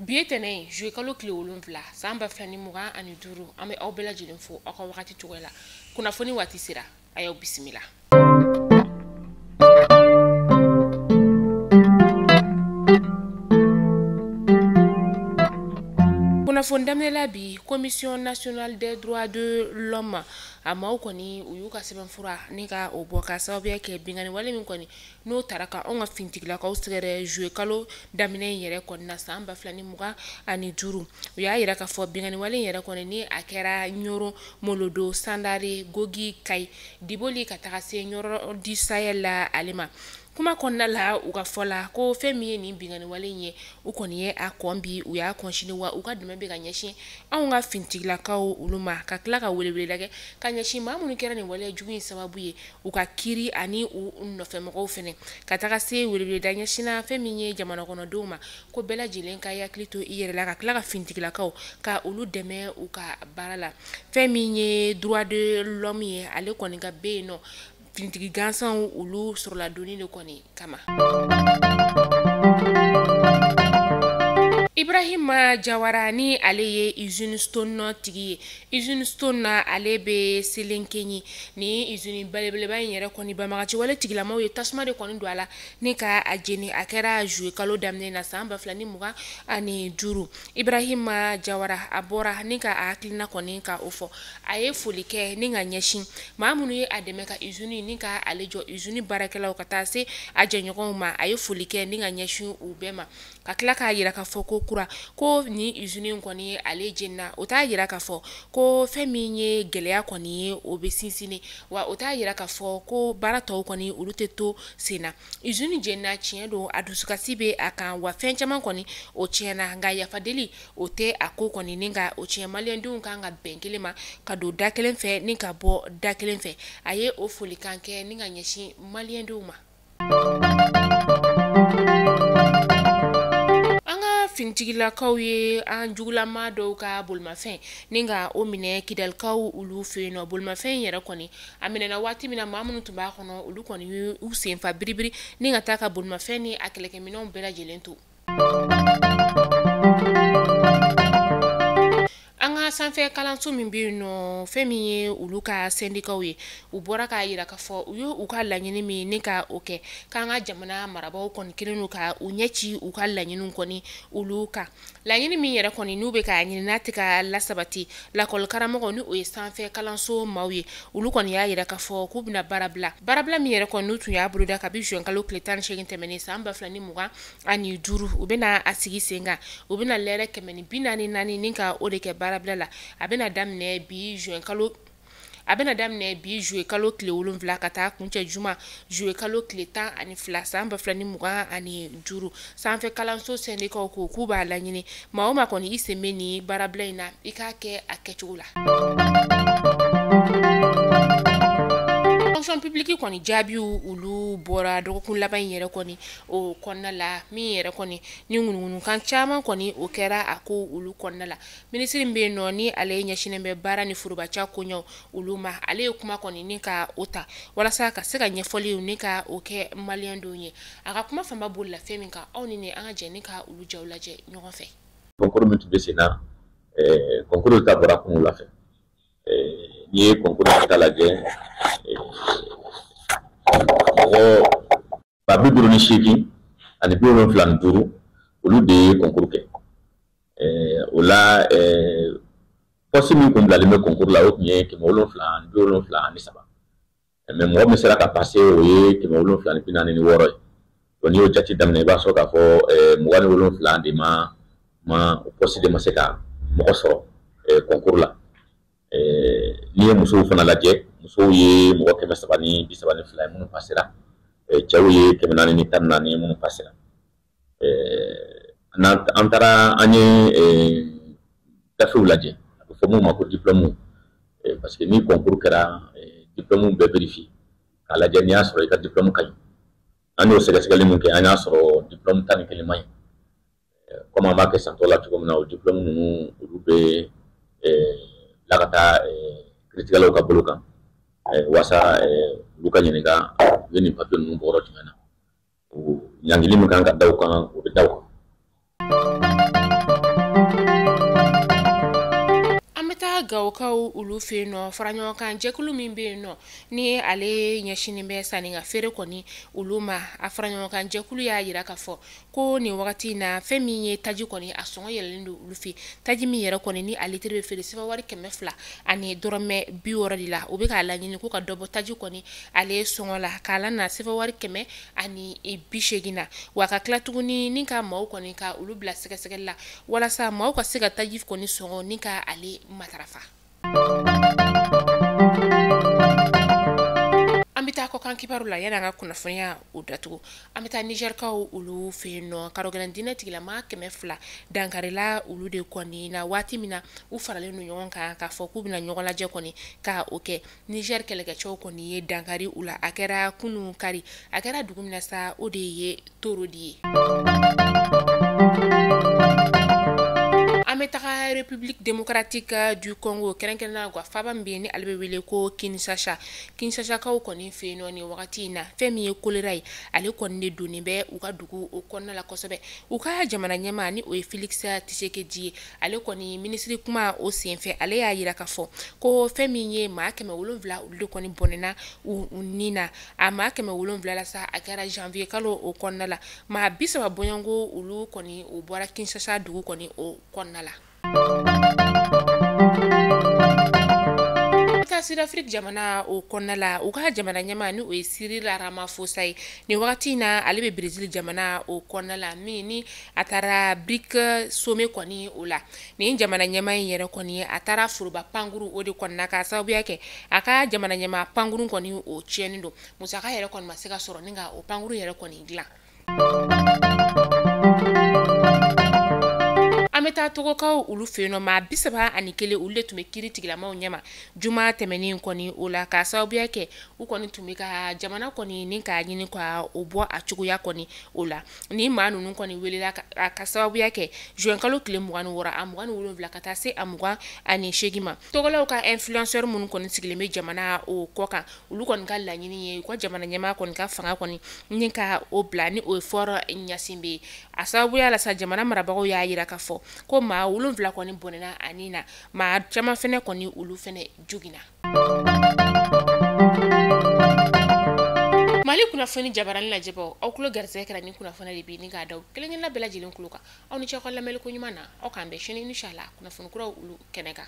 bi ye tɛnɛn ye juye kalo tile wolonfila san ba fila ni mugan ani duuru an bɛ aw bɛɛ lajɛlen fo aw ka wagati cogoya la kunnafoni waati sera a y'aw bisimila kunnafoni daminɛla bi commission nationale des droits de l'homme a maaw kɔni u y'u ka sɛbɛnfura ni ka o bɔ ka sababuya kɛ binkanni wale min kɔni n'o taara ka anw ka fintigilakaw sɛgɛrɛ juwe kalo daminɛ in yɛrɛ kɔni na san ba fila ni mugan ani duuru u y'a yira k'a fɔ binkanniwale in yɛrɛ kɔni ni a kɛra ɲɔnɔ molodo sandare gogi kayi diboli ka taga se ɲɔrɔ di sayɛl la ale ma kuma kɔnɔna la u ka fɔ la ko fɛn min ye nin binkanniwale in ye u kɔni ye a kɔn bi u y'a kɔn sini wa u ka dɛmɛ bɛ ka ɲɛsin anw ka fintigilakaw olu ma ka tila ka weleweleda kɛ ka ɲɛsin maa minnu kɛra nin waleya jugu in sababu ye u ka kiri ani u nɔfɛmɔgɔw fana ka taga se weleweleda ɲɛsinna fɛn min ye jamana kɔnɔdenw ma ko bɛɛ lajɛlen ka i hakili to i yɛrɛ la ka tila ka fintigilakaw ka olu dɛmɛ u ka baara la fɛn min ye droit de l'homme ye ale kɔni ka bɛ yen nɔ finitigi gansanw olu sɔrɔ ladonni de kɔni kama ibrahima jawara ni ale ye izini stone nɔ tigi ye izini stone n'ale bɛ selenkenyi ni izini belebeleba in yɛrɛ kɔni banbagaci wale tigilamaw ye tasuma de kɔni don a la ni ka a jeni a kɛra juwe kalo daminɛ na san ba fila ni mugan ani duuru Ibrahima Jawara a bɔra ni ka a hakilina kɔni ka o fɔ, a ye foli kɛ ni ka ɲɛsin maa minnu ye a dɛmɛ ka usine ni ka ale jɔ usine baarakɛlaw ka taa se a jɛɲɔgɔnw ma, a ye foli kɛ ni ka ɲɛsin u bɛɛ ma, ka tila k'a yira k'a fɔ kokura ko nin usine in kɔni ale jenina, o t'a yira k'a fɔ ko fɛn min ye gɛlɛya kɔni ye o bɛ sinsinni wa o t'a yira k'a fɔ ko baara tɔw kɔni olu tɛ to senna. Usine jenina tiɲɛ don a dusukasi bɛ a kan wa fɛn caman kɔni o tiɲɛna nka yafa deli o tɛ a ko kɔni ni ka o tiɲɛ maliyɛndenw kan ka bɛn kelen ma ka don da kelen fɛ ni ka bɔ da kelen fɛ a ye o foli kan kɛ ni ka ɲɛsin maliyɛndenw ma an ka fintigilakaw ye an jugulama dɔw ka bolomafɛn ni ka o minɛ kidalikaw olu fɛ yen nɔ bolomafɛn in yɛrɛ kɔni a minɛna waati min na maa minnu tun b'a kɔnɔ olu kɔni y'u sen fa biribiri ni ka taa ka bolomafɛn ni a kɛlɛkɛminɛnw bɛɛ lajɛlen to an ka sanfɛ kalanso min bɛ yen nɔ fɛn min ye olu ka sendikaw ye u bɔra k'a yira k'a fɔ u ye u ka laɲini min ni ka o kɛ k'an ka jamana marabaaw kɔni kɛlen don ka u ɲɛ ci u ka laɲiniw kɔni olu kan laɲini min yɛrɛ kɔni n'u bɛ k'a ɲini n'a tɛ ka lasabati lakɔlikaramɔgɔ ni o ye sanfɛ kalanso maaw ye olu kɔni y'a yira k'a fɔ k'u bɛna baarabila baarabila min yɛrɛ kɔni n'u tun y'a boloda kabi juin kalo tile tan ni seegin tɛmɛnen san ba fila ni mugan ani duuru u bɛna a sigi sen kan u bɛna lɛrɛ kɛmɛ ni bi naani naani ni ka o de kɛ baarabila la a bɛna daminɛ bi juillet kalo a bɛna daminɛ bi juillet kalo tile wolonfila ka taa kuncɛ juma juillet kalo tile tan ani fila san ba fila ni mugan ani duuru sanfɛ kalanso sendikaw ko k'u b'a laɲini maa o maa kɔni i sen bɛ ni baarabila in na i k'a kɛ a kɛcogo la fonction publique kɔni jaabi olu bɔra dɔgɔkun laban in yɛrɛ kɔni o kɔnɔna la min yɛrɛ kɔni ni ŋunuŋunukan caman kɔni o kɛra a ko olu kɔnɔna la minisiri bɛ yen nɔ ni ale ɲɛsinnen bɛ baara ni forobaca koɲɛw olu ma ale ye kuma kɔni ni ka o ta walasa ka se ka ɲɛfɔliw ni ka o kɛ maliyɛn dɔw ye a ka kuma fanba bolila fɛn min kan aw ni ne an ka jɛ ni ka olu jaw lajɛ ɲɔgɔn fɛ kɔnkuru min tun bɛ sen na kɔnkuru résultat bɔra kunun wula fɛ eh, n'i ye kɔnkuru résultat lajɛ eh, mɔgɔ ba bi duuru ni seegin ani bi wolonfila ni duuru olu de ye kɔnkuru kɛ o la pɔsi min kun bilalen bɛ kɔnkuru la o tun ye kɛmɛ wolonfila ani bi wolonfila ani saba mɛ mɔgɔ min sera ka pase o ye kɛmɛ wolonfila ni bi naani ni wɔɔrɔ ye donc n'i y'o jate daminɛ i b'a sɔrɔ k'a fɔ mugan ni wolonfila de ma pɔsi de ma se ka mɔgɔ sɔrɔ kɔnkuru la n'i ye musow fana lajɛ musow ye mɔgɔ kɛmɛ saba ni bi saba ni fila ye minnu pasera cɛw ye kɛmɛ naani ni tan ni naani ye minnu pasera an taara an ye gafew lajɛ a bɛ fɔ mun ma ko diplɔmu parce que ni kɔnkuru kɛra diplɔmu bɛ vérifier k'a lajɛ n'i y'a sɔrɔ i ka diplɔmu ka ɲi an y'o sɛgɛsɛgɛli min kɛ an y'a sɔrɔ diplɔmu tan ni kelen man ɲi kɔmi an b'a kɛ san tɔw la cogo min na o diplɔmu ninnu olu bɛ bila ka taa kiiritigɛlaw ka bolo kan walasa olu ka ɲininka u ye nin papiye ninnu bɔ yɔrɔ jumɛn na ɲangili min kan ka da u kan o bɛ da u kan an bɛ taa gawokaw olu fɛ yen nɔ fara ɲɔgɔn kan jɛkulu min bɛ yen nɔ ni ale ɲɛsinnen bɛ sanni ka feere kɔni olu ma a fara ɲɔgɔn kan jɛkulu y'a yira k'a fɔ ko nin wagati in na fɛn min ye taji kɔni a sɔngɔ yɛlɛlen don olu fɛ taji min yɛrɛ kɔni ni a litiri bɛ feere sefawari kɛmɛ fila ani dɔrɔmɛ bi wɔɔrɔ de la u bɛ k'a laɲini k'u ka dɔ bɔ taji kɔni ale sɔngɔ la k'a lana sefawari kɛmɛ ani e, bi seegin na wa ka tila tuguni ni ka maaw kɔni ka olu bila sɛgɛsɛgɛli la walasa maaw ka se ka taji kɔni sɔngɔ ni ka ale matarafa an bɛ taa kɔkan kibaru la yanni an ka kunnafoniya o datugu an bɛ taa nizɛrikaw olu fɛ yen nɔ karɔgɛlɛn diinɛ tigilamaa kɛmɛ fila dankarila olu de kɔni na waati min na u faralen don ɲɔgɔn kan k'a fɔ k'u bɛna ɲɔgɔn lajɛ kɔni ka o kɛ Niger kɛlɛkɛcɛw kɔni ye dankari u la, a kɛra kunun kari, a kɛra dugu min na sa, o de ye Torodi ye. An bɛ taga République démocratique du Congo kɛrɛnkɛrɛnnenya la u ka faaba min bɛ yen, ni ale bɛ wele ko Kinshasa, Kinshasakaw kɔni fɛ yen nɔ nin wagati in na, fɛn min ye choléra ye, ale kɔni de donnen bɛ u ka dugu o kɔnɔna la kosɛbɛ, u ka jamana ɲɛmaa ni o ye Felix Tshisekedi ye, ale kɔni minisiri kuma o senfɛ ale y'a jira k'a fɔ ko fɛn min ye maa kɛmɛ wolonwula olu de kɔni bɔnɛna u ni na a maa kɛmɛ wolonwula la sa a kɛra janvier kalo o kɔnɔna la maa bi saba bɔɲɔgɔnko olu kɔni o bɔra kinshasa dugu kɔni o kɔnɔna la sudafriki jamana o kɔnɔna la u ka jamana ɲɛmaa ni o ye cyril ramaphosa ye nin wagati in na ale bɛ brazil jamana o kɔnɔna la min ni a taara brics sommet kɔni o la nin jamana ɲɛmaa in yɛrɛ kɔni a taara foroba pankuru o de kɔnɔna k'a sababuya kɛ a ka jamana ɲɛmaa pankuru kɔni o tiɲɛnen don musaka yɛrɛ kɔni ma se ka sɔrɔ ni ka o pankuru yɛrɛ kɔni dilan an bɛ taa togokaw olu fɛ yen nɔ maa bi saba ani kelen olu de tun bɛ kiiri tigilamaaw ɲɛma juma tɛmɛnen kɔni o la k'a sababuya kɛ u kɔni tun bɛ ka jamana kɔni ni k'a ɲini ka o bɔ a cogoya kɔni o la ni maa ninnu kɔni welela k'a sababuya kɛ zuwɛnkalo tile mugan ni wɔɔrɔ a mugan ni wolonwula ka taa se a mugan ani seegin ma togolaw ka influenceur minnu kɔni sigilen bɛ jamana o kɔ kan olu kɔni ka laɲini ye u ka jamana ɲɛmaa kɔni ka fanga kɔni ni ka o bila ni o ye faure gnassingbé ye a sababuya la sa jamana marabagaw y'a jira k'a fɔ ko maa wolonwula kɔni bɔnɛna a ni na maa caman fana kɔni olu fana joginna mali kunnafoni jabarani lajɛbaaw aw tulo garisɛgɛ kɛra nin kunnafoniya de bi ni k'a da aw kelenkelenna bɛɛ lajɛlen tulo kan aw ni ce ko lamɛnli ko ɲuman na aw k'an bɛn sini inshala kunnafoni kuraw olu kɛnɛ kan